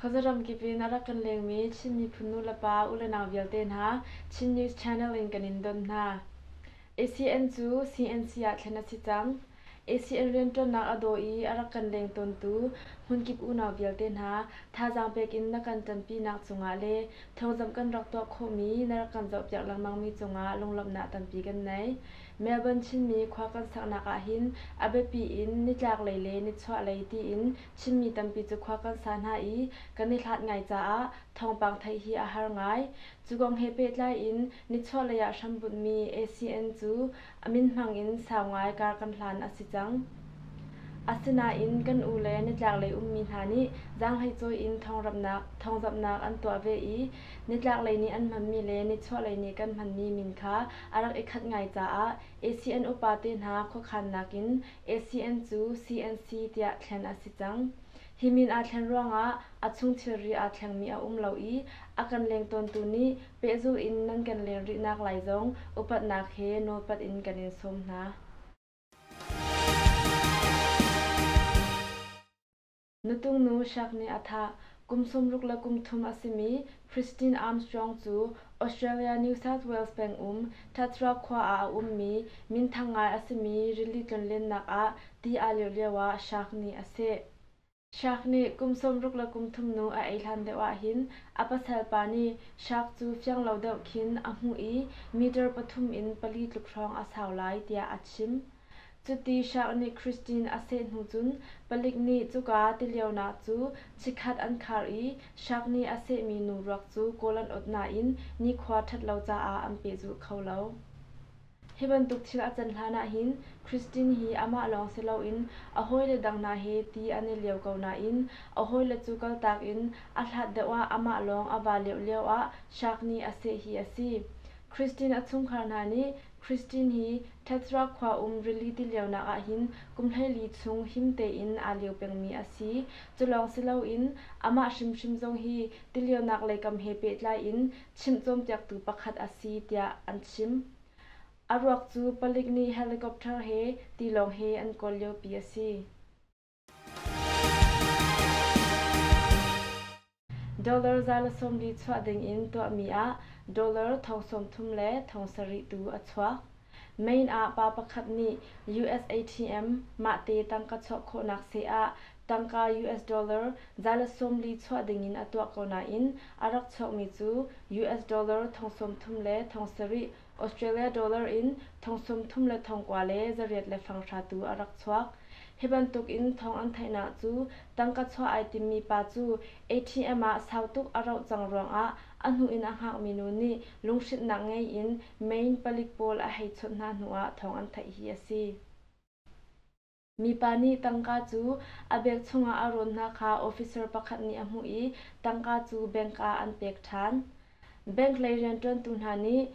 Khuazaram kip in a rak kan lengmi Chin miphun nu le pa u le nau vialte hna Chin News Channel in kan in don hna. ACN cu CNC ah thlen a si cang. ACL rianṭuannak a daw i a rak kan leng tawntu hmunkip unau vialte hna, thazaang pek in na kan ṭanpinak cungah le thawngzamh kan rak tuah khawhmi na rak kan zohpiak lengmangmi cungah lunglawmhnak tampi kan nei. Melbourne Chinmi khua kan saknak ahhin a biapi in nitlaklei le nichuahlei tiin Chinmi tampi cu khua kan sa hna i kan i hlat ngai caah thawngpang theih hi a har ngai. Cu kong he pehtlai in nichuahlei ah hrambunhmi ACN cu A min hmang in sau ngai kar kan hlan a si cang. Asinain kan u le nitlaklei ummi hna nih zaanghleicawi in thawngramhnak, thawngzamhnak an tuah ve i nitlaklei nih an hmanmi le nichuahlei nih kan hmanmi min kha a rak i khat ngai caah ACN upate hna khuakhannak in ACN cu CNC tiah thlen a si cang. Hi min aa thlen ruangah a chung thilri aa thlengmi a um lo i a kan leng tawntu nih Pehzulh in nan kan len rihnak lai zong upatnak he nawlpat in kan in sawm hna. Nutung-nu Shak nih a thah kum sawmruk le kum thum a simi Christine Armstrong cu Australia New South Wales peng um Tathra khua ah a ummi minthang ngai a simi rili tlonlennak ah ti aa lirh lioah Shak nih a seh. Shark nih kum sawmruk le kum thumnu a ei hlan deuh ahhin a pasal pa nih shark cu fiang lo deuh khin a hmuh i meter pathum in pali tluk hrawng a sau lai tiah a chim. Cuti shark nih Christine a seh hnu cun palik nih cuka tilionak cu chikkhat an khar i shark nih a sehmi nu ruak cu kawl an ot nain nikhua ṭhat lo caah an pehzulh kho lo. Hi bantuk thil a can hlan ahhin Christine hi amah lawng si loin a hawile dang hna he ti an i lio ko nain a hawile cu kaltak in a hlat deuh ah amah lawng a va lioh lio ah Shakni a seh hi a si. Christine a chungkhar hna nih Christine hi Tetra khua um rili tilionak ahhin kumhleili chung him tein aa lio pengmi a si. Cu lawng si loin amah hrimhrim zong hi tilionak lei kam he pehtlai in chimh cawnpiaktu pakhat a si tiah an chim. A ruak cu palik nih helicopter he tilawng he an kawl liopi a si. Dollar za le sawm li chuah ding in tuahmi ah dollar thong sawm thum le thong sarih tu a chuak. Main ah pa pakhat nih USATM mahte tangka chuah khawhnak seh ah tangka US dollar zalat sawmli chuah dingin a tuah ko nain a rak chuakmi cu US dollar thong sawmthum le thong sarih, Australia dollar in thong sawmthum le thong kua le zariat le fanghra tu a rak chuak. Hi bantuk in thong an theihnak cu tangka chuah ai timmi pa cu ATM ah sau tuk a rauh cang ruangah a hnu in a hngakmi nu nih lunghrinhnak ngei in Main palik pawl a hei chawnh hna hnu ah thawng an theih hi a si. Mipa nih tangka cu a beg chungah a rawn hna kha officer pakhat nih a hmuh i tangka cu bank ah an pek ṭhan. Bank lei rianṭuantu hna nih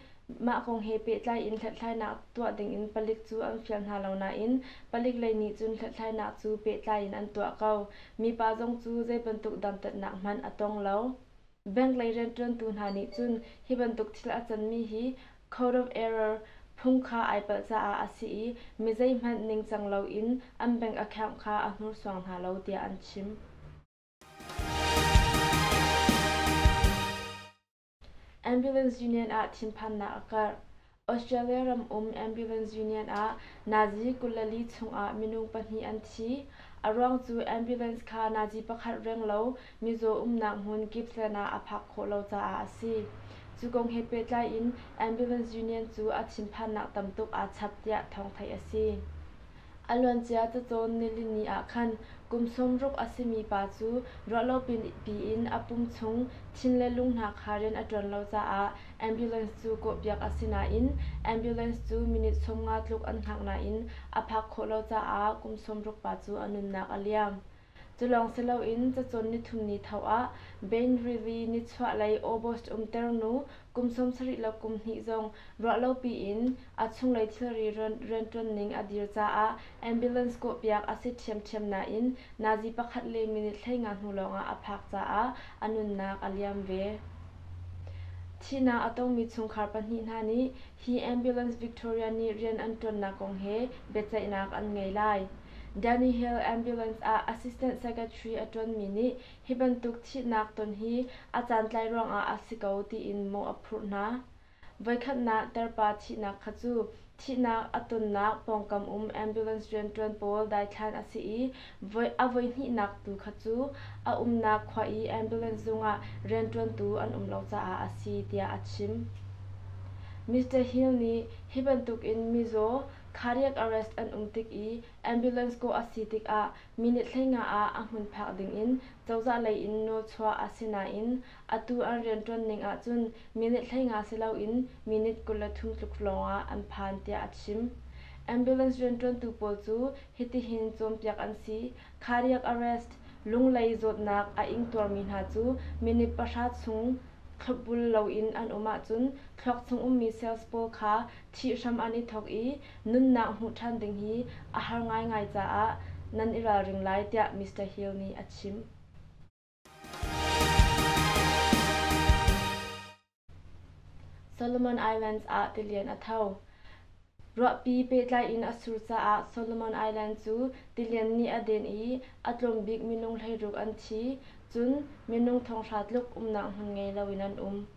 mah kong he pehtlai in hlathlainak tuah dingin palik cu an fial hna lo nain palik lei nih cun hlathlainak cu pehtlai in an tuah ko. Mipa zong cu zei bantuk dantatnak hmanh a tong lo. Bank lei rianṭuantu hna nih cun hi bantuk thil a canmi hi code of error phung kha ai palh caah a si i mi zeihmanh ningcang loin an bank account kha a hnursuang hna lo tiah an chim. Ambulance union ah thinphannak a karh. Australia ram um ambulance union ah Nazi kullali chungah minung pahnih an thi. A ruang cu ambulance kha Nazi pakhat reng lo mizaw umnak hmun Gippsland ah a phak khawh lo caah a si. Cu kong he pehtlai in ambulance union cu a thinphannak tam tuk aa chap tiah thawng theih a si. A luancia cacawn nilini ah khan kum sawmruk a simi pa cu ruahlopipi in a pum chung thin le lung hna kha rian a ṭuan lo caah ambulance cu kawhpiak a si nain ambulance cu minute sawmnga tluk an hngak nain a phak khawh lo caah kum sawmruk pa cu a nunnak a liam. Culawng si loin cacawn nithum ni tho ah Bain Rivy nichuahlei August umter nu kum sawmsarih le kum hnih zong ruahlopi in a chunglei thilri rianṭuanning a dir caah ambulance kawhpiak a si ṭhiamṭhiam nain nazi pakhat le minute hleinga hnu lawngah a phak caah a nunnak a liam ve. Thihnak a tongmi chungkhar pahnih hna nih hi ambulance Victoria nih rian an ṭuannak kong he biaceihnak an ngei lai. Danny Hill ambulance ah assistant secretary a ṭuanmi nih hi bantuk thihnak ton hi a caantlai ruangah a si ko tiin mawh a phurh hna. Voikhatnak terpa thihnak kha cu thihnak a tonnak pawngkam um ambulance rianṭuan pawl daithlan a si i a voihnihnak tu kha cu a umnak khua i ambulance zungah rianṭuantu an um lo caah a si tiah a chim. Mr. Hill nih hi bantukin mizaw Cardiac arrest an um tik i ambulance kawh a si tikah minute thlenga ah a hmun phak dingin cozah lei in nawl chuah a si nain atu an rianṭuan ning ahcun minute thlenga si loin minute kul le thum tluk lawngah an phan tiah a chim. Ambulance rianṭuantu pawl cu hitihin cawnpiak an si, Cardiac arrest, Lunglei zawtnak a ingtuarmi hna cu minute pahra chung thlopbul loin an um ahcun thluak chung ummi cells pawl kha Thih hram an i thawk i nunnak hmuh ṭhan ding hi a har ngaingai caah nan i ralring lai tiah Mister Hill nih a chim. Solomon Islands ah tilian a tho. Ruahpi pehtlai in a sur caah Solomon Island cu tilian nih a den i a tlawm bik minung hleiruk an thi, cun minung thonghra tluk umnak hmun ngei loin an um.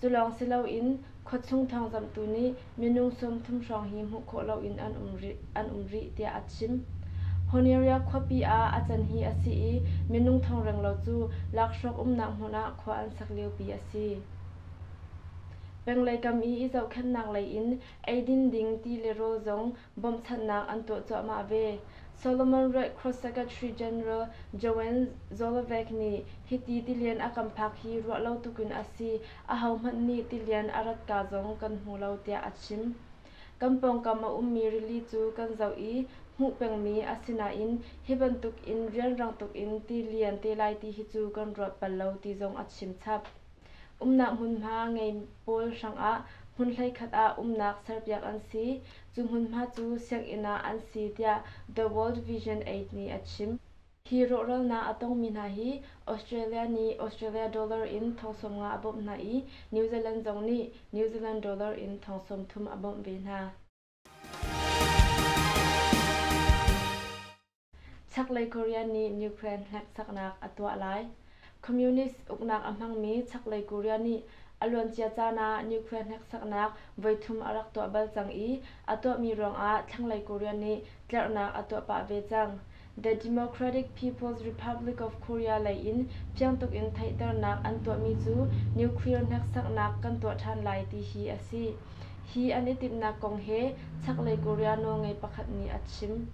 Culawng si loin khuachung thawngzamhtu nih minung sawmthum hrawng hi hmuh khawh loin an um rih tiah a chim. Honeria khuapi ah a can hi a si i minung thongrenglo cu lakhrawk umnak hmun ah khua an sak liopi a si. Penglei kam i i zohkhenhnak lei in eidin ding ti le rawl zong bawmhchanhnak an tuah cuahmah ve. Solomon Ruih Cross Secretary General Joanne Zolovec nih hiti tilian a kan phak hi ruah lo tuk in a si, ahohmanh nih tilian a rat kaa zong kan hmu lo tiah a chim. Kan pawngkam a ummi rili cu kan zoh i hmuh pengmi a si nain hi bantuk in rianrang tuk in ti lian te lai ti hi cu kan ruat bal lo ti zong a chim chap. Umnak hmunhma ngei pawl hrangah hmun hleikhat ah umnak serpiak an si. Cu hmunhma cu sianginn ah an si tiah The World Vision Aid nih a chim. Hi rawhralnak a tongmi hna hi Australia nih Australia dollar in thong sawm nga a bawmh hna i New Zealand zong nih New Zealand dollar in thong sawm thum a bawmh ve hna. Chaklei Korea nih Ukraine hneksaknak a tuah lai. Communist uknak a hmangmi Chaklei Korea nih a luancia caan ah Ukraine hneksaknak voithum a rak tuah bal cang i a tuahmi ruangah thlanglei Korea nih tlerhnak a tuah pah ve cang. The Democratic People's Republic of Korea lei in fiangtuk in theihternak an tuahmi cu nuclear hneksaknak kan tuah ṭhan lai ti hi a si. Hi an i timhnak kong he chaklei Korea nawlngei pakhat nih a chim.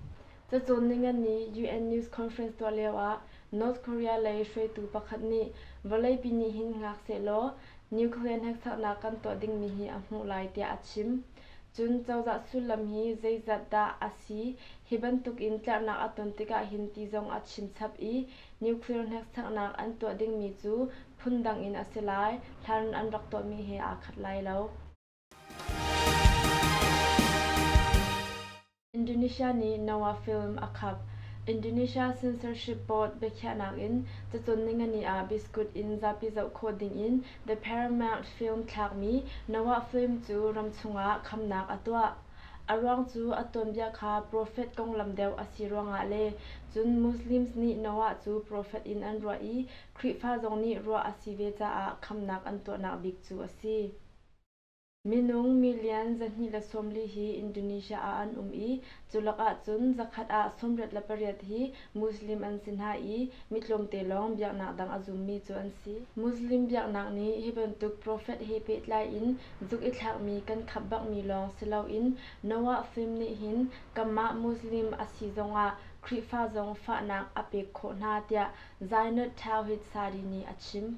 Cacawn ningani UN news conference tuah lioah North Korea lei hruaitu pakhat nih vawleipi nih hin hngak sehlaw nuclear hneksaknak kan tuah dingmi hi a hmuh lai tiah a chim. Cun cozah sullam hi zeizat dah a si? Hi bantuk in tlerhnak a ton tikah hin ti zong a chinchap i nuclear hneksaknak an tuah dingmi cu phundang in a si lai, hlan an rak tuahmi he aa khat lai lo. Indonesia nih Noah film a khap. Indonesia censorship board biakhiahnak in cacun ningani ah biskut in zapi zoh khawh dingin The Paramount film thlakmi Noah film cu ramchung ah khamnak a tuah. A ruang cu a tuanbia kha profet konglam deuh a si ruangah le cun Muslims nih Noah cu profet in an ruah i Khrihfa zong nih ruah a si ve caah khamnak an tuahnak bik cu a si. Minung million zahnih le sawmli hi Indonesia ah an um i, cu lakah cun zakhat ah sawmriat le pariat hi Muslim an si hna i, mi tlawmte lawng biaknak dang a zummi cu an si. Muslim biaknak nih hi bantuk prophet he pehtlai in zuk i thlakmi kan khap bakmi lawng si loin Noah fim nih hin kanmah Muslim a si zongah Khrihfa zong fahnak a pek khawh hna, tiah Zainut Tawhid Sari nih a chim.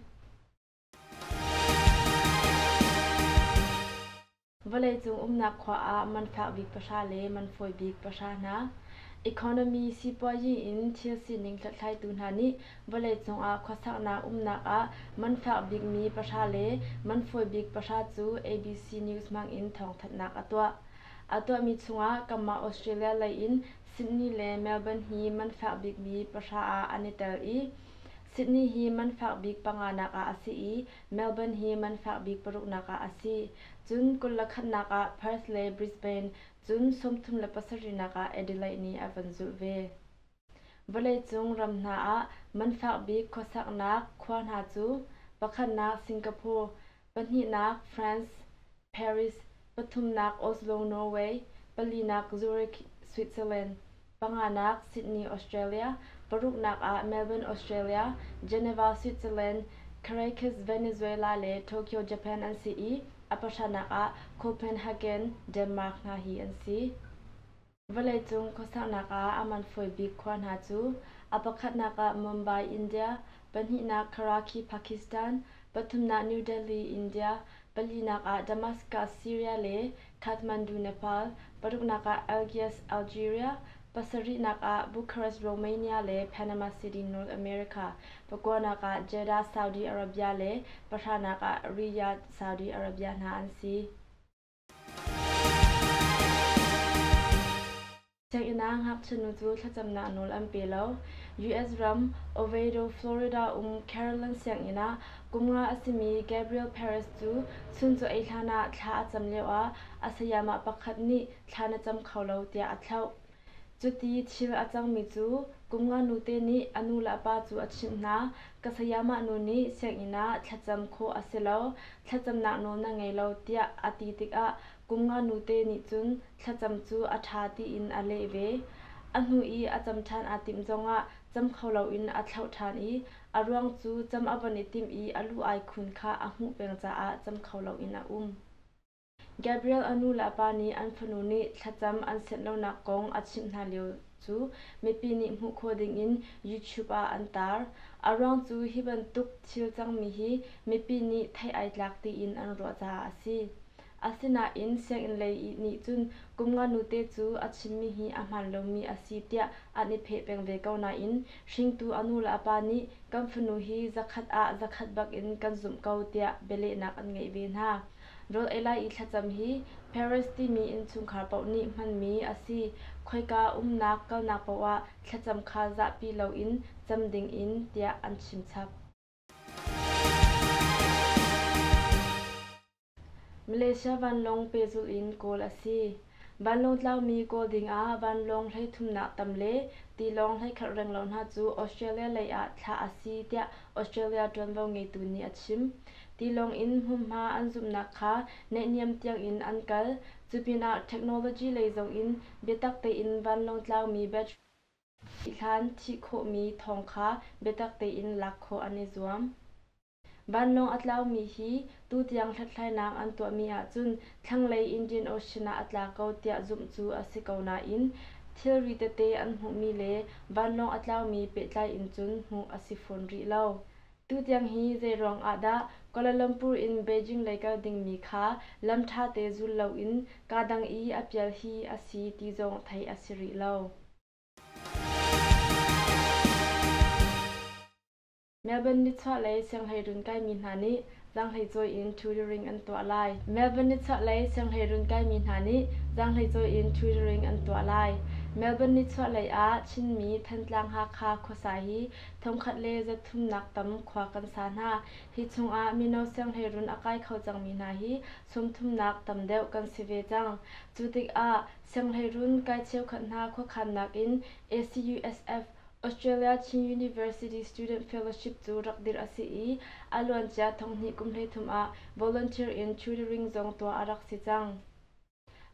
Vawleicung umnak khua ah man fak bik pahra le man fawi bik pahra hna economy sipuazi in thil sining hlathlaitu hna nih vawleicung ah khuasaknak umnak ah man fak bikmi pahra le man fawi bik pahra cu ABC News hmangin thawngthanhnak a tuah. A tuahmi chungah kanmah Australia lei in Sydney le Melbourne hi man fak bikmi pahra ah an i tel i Sydney hi man fak bik panga nak ah a si i Melbourne hi man fak bik paruk nak ah a si. Cun kul le khatnak ah Perth le Brisbane, cun sawmthum le pasarihnak ah Adelaide nih a van zulh ve. Vawleicung ram hna ah man fak bik khuasaknak khua hna cu pakhatnak Singapore, pahnihnak France, Paris, pathumnak Oslo, Norway, palinak Zurich, Switzerland, panganak Sydney, Australia, paruknak ah Melbourne, Australia, Geneva, Switzerland, Caracas, Venezuela le Tokyo, Japan an si i a pahranak ah Copenhagen, Denmark hna hi an si. Vawleicung khuasaknak ah a man fawi bik khua hna cu a pakhatnak ah Mumbai, India, pahnihnak Karachi, Pakistan, pathumnak New Delhi, India, palinak ah Damascus, Syria le Kathmandu, Nepal, paruknak ah Algiers, Algeria, pasarihnak ah Bucharest, Romania le Panama City, North America, pakuanak ah Jeddah, Saudi Arabia le pahranak ah Riyadh, Saudi Arabia hna an si. Sianginn ah ngakchinu cu thlacamnak nawl an pe lo. US ram Oviedo, Florida um Carolyn sianginn ah kum nga a simi Gabriel Perez cu chuncaw-ei hlan ah thla a cam lioah a sayamah pakhat nih thla na cam kho lo tiah a thlauh. Cuti thil a cangmi cu kum nga nute nih a nu le a pa cu a chimh hna, ka sayamah nu nih sianginn ah thlacam khawh a si lo, thlacamnak nawl na ngei lo tiah a ti tikah kum nga nute nih cun thlacam cu a ṭha tiin a leh ve. A hnu i a cam ṭhan aa timh zongah cam kho loin a thlauh ṭhan i a ruang cu cam a von i timh i a lu ai khun kha a hmuh peng caah cam kho loin a um. Gabriel a nu le a pa nih an fanu nih thlacam an set lonak kong a chimh hna lio cu mipi nih hmuh khawh dingin YouTube ah an taar. A ruang cu hi bantuk thil cangmi hi mipi nih theih ai tlak tiin an ruah caah a si. Asinain sianginn lei i nih cun kum nga nute cu a chimmi hi a hmaan lomi a si tiah an i pheh peng ve ko nain hringtu a nu le a pa nih kan fanu hi zakhat ah zakhat bak in kan zumh ko tiah bialehnak an ngeih ve hna. Rawl ei lai i thlacam hi Paris timi innchungkhar paoh nih hmanmi a si. Khoika umnak kalnak paoh ah thlacam kha zahpi loin cam dingin tiah an chimchap. Malaysia vanlawng pehzulh in kawl a si. vanlawngtlaumi kawl dingah vanlawng hleithumnak tam le tilawng hleikhalh reng lo hna cu australia lei ah thlah a si tiah australia ṭuanvo ngeitu nih a chim tilawng in hmunhma an zumhnak kha naihniam tiangin an kal cupinah technology lei zongin biatak tein vanlawng tlaumi battery thih hlan thih khawhmi thawng kha biatak tein lak khawh an i zuam Vanlawng a tlaumi hi tutiang hlathlainak an tuahmi ahcun thlanglei Indian Ocean ah a tla ko tiah zumh cu a si ko nain thilri tete an hmuhmi le vanlawng a tlaumi pehtlai in cun hmuh a si fawn rih lo. Tutiang hi zeiruang ahdah Kuala Lumpur in Beijing lei kal dingmi kha lam ṭha te zul loin kaa dang i a pial hi a si ti zong theih a si rih lo. Melbourne nichuah lei sianghleirun kaimi hna nih zaanghleicawi in tutoring an tuah lai. Melbourne nichuah lei sianghleirun kaimi hna nih zaanghleicawi in tutoring an tuah lai. Melbourne nichuah lei ah Chinmi Thantlang Hakha khuasa hi thongkhat le zathumnak tam khua kan sa hna. Hi chungah mino sianghleirun a kai kho cangmi hna hi sawmthumnak tam deuh kan si ve cang. Cu tikah sianghleirun kai cheukhat hna khuakhannak in ACUSF, australia chin university student fellowship cu rak dirh a si i a luancia thonghnih kum hleithum ah volunteer in tutoring zong tuah a rak si cang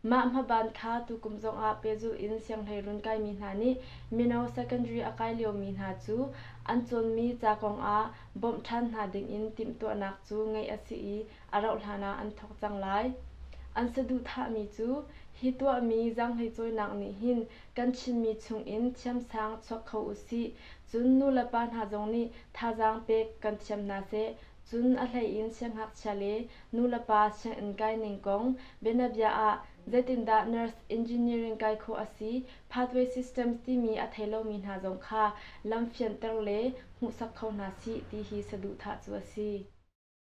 mah hmaban kha tukum zongah pehzulh in sianghleirun kaimi hna nih mino secondary a kai liomi hna cu an cawnmi ca kong ah bawmh ṭhan hna dingin timhtuahnak cu ngeih a si i a rauhhlan ah an thawk cang lai an saduhthahmi cu hi tuahmi zaanghleicawinak nih hin Kan Chinmi chungin thiamsang chuak kho usih, cun nu le pa hna zong nih thazaang pek kan thiam hna seh, cun a hleiin siangngakchia le nu le pa sianginn kai ning kong, bianabia ah zeitindah nurse engineering kai khawh a si, pathway systems timi a thei lomi hna zong kha lam fianter le hmuhsak kho hna sih ti hi saduhthah cu a si.